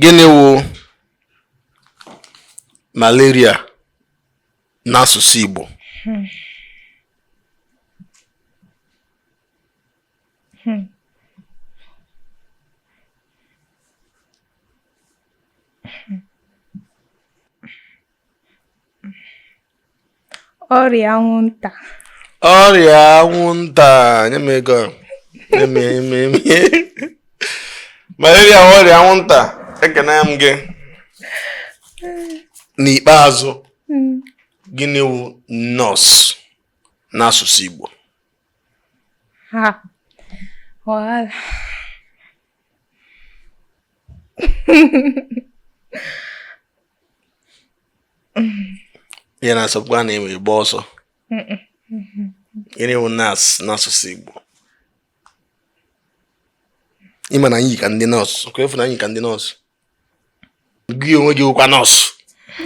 Gịnị wụ malaria n'asụsụ Igbo? Hmm. Hmm. ọrịa anwụnta ọrịa anwụnta nye m ego malaria ọrịa anwụnta ekene m gị n'ikpeazụ hmm. gịnị wụ nurse n'asụsụ Igbo ya na-asọpụkwa na enwe gba ọsọ gịnị wụ nurse n'asụsụ Igbo ịma na anyị ka ndị nọọsụ ka efu na anyị ka ndị nọọsụ gị onwe gị wụkwa nọọsụ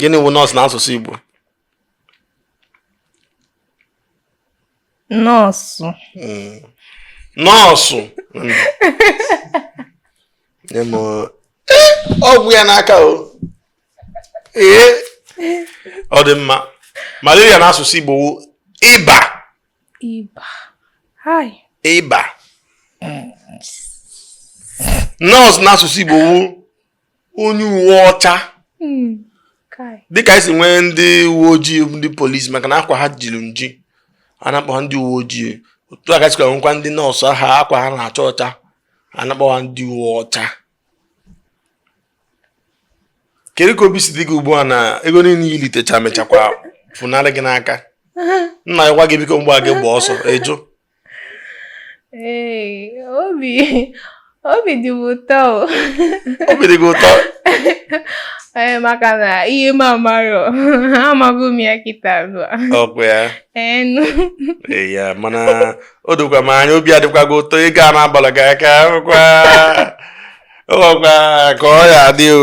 gịnị wụ nurse n'asụsụ Igbo nurse hmm. nurse hmm. ọgwụ ya n'aka o ee ọ dị mma malaria n'asụsụ Igbo wụ ịba ịba nurse n'asụsụ Igbo wụ onye uwe ọcha hmm, dịka esi nwee ndị uwe ojii ndị polisi maka na akwa ha jiri nji a na-akpọ ha ndị uwe ojii otu a ka e sikwa nwekwa ndị nurse ha akwa ha na-acha ọcha a na-akpọ ha ndị uwe ọcha kedu ka obi si dị gị ugbu a na ego niile i litecha mechakwa funarị gị n'aka nna ya gwa gị biko mgbe a gị gba ọsọ ịjụ Ee, obi obi dị m ụtọ obi dị gị ụtọ ee maka na ihe m amarọ amago m ya kịta ugbu a ọkwa ya eh ee ya mana o dokwa m anya obi adịkwa gị ụtọ ego a na-abalọ gị aka ọkwa ọkwa ka ọ ya adị o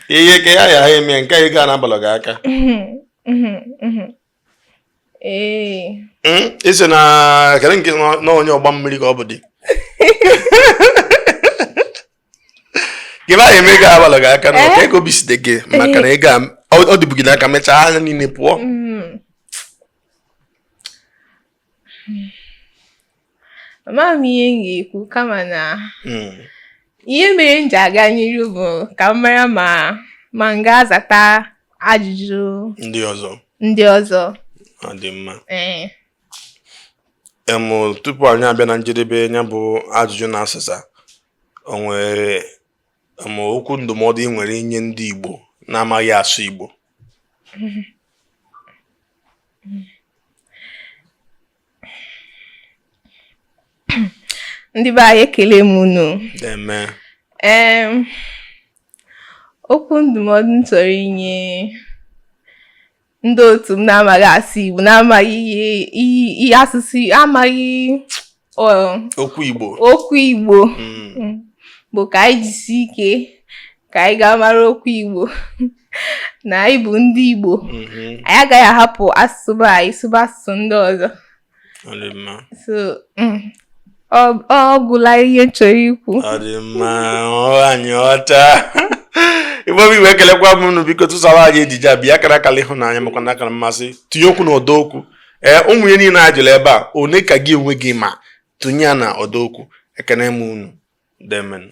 ihe ka ya ya ha eme nke ego a na-abalọ gị aka isi na kere nke na onye ọgba mmiri ka ọ bụ dị gị ba eme ego abalọ gị aka na eh? ọka ego biside gị maka na ego ọ dịbụ gị n'aka mechaa anya niile pụọ mm. amaghị m ihe m ga-ekwu kama na hmm. ihe mere m ji aga n'iru bụ ka m mara ma ma m ga-azata ajụjụ ndị ọzọ ndị ọzọ ọ dị mma ee tupu anyị abịa na njedebe nya bụ ajụjụ na asịsa o nwere ma okwu ndụmọdụ ị nwere inye ndị Igbo na-amaghị asụ Igbo ndị be anyị ekele m unu okwu ndụmọdụ m chọrọ inye ndị otu m na-amaghị asụ Igbo na-amaghị ihe asụsụ amaghị okwu Igbo okwu Igbo hmm. Hmm. bụ ka anyị jisi ike ka anyị gaa mara okwu Igbo na anyị bụ ndị Igbo mm-hmm. anyị agaghị ahapụ asụsụ anyị sụba asụsụ ndị ọzọ ọ gwụla ihe ị chọrọ ikwu ọ dị mma anyị ọcha igbo bụ iwe ekelekwa m unu biko tụsara anyị ejije pịa akara akara ịhụnanya makwa na akara mmasị tinye okwu na ọdọ okwu ee ụmụ ihe niile a jụrụ ebe a one ka gị onwe gị ma tụnye ya na ọdọ okwu ekene m unu demen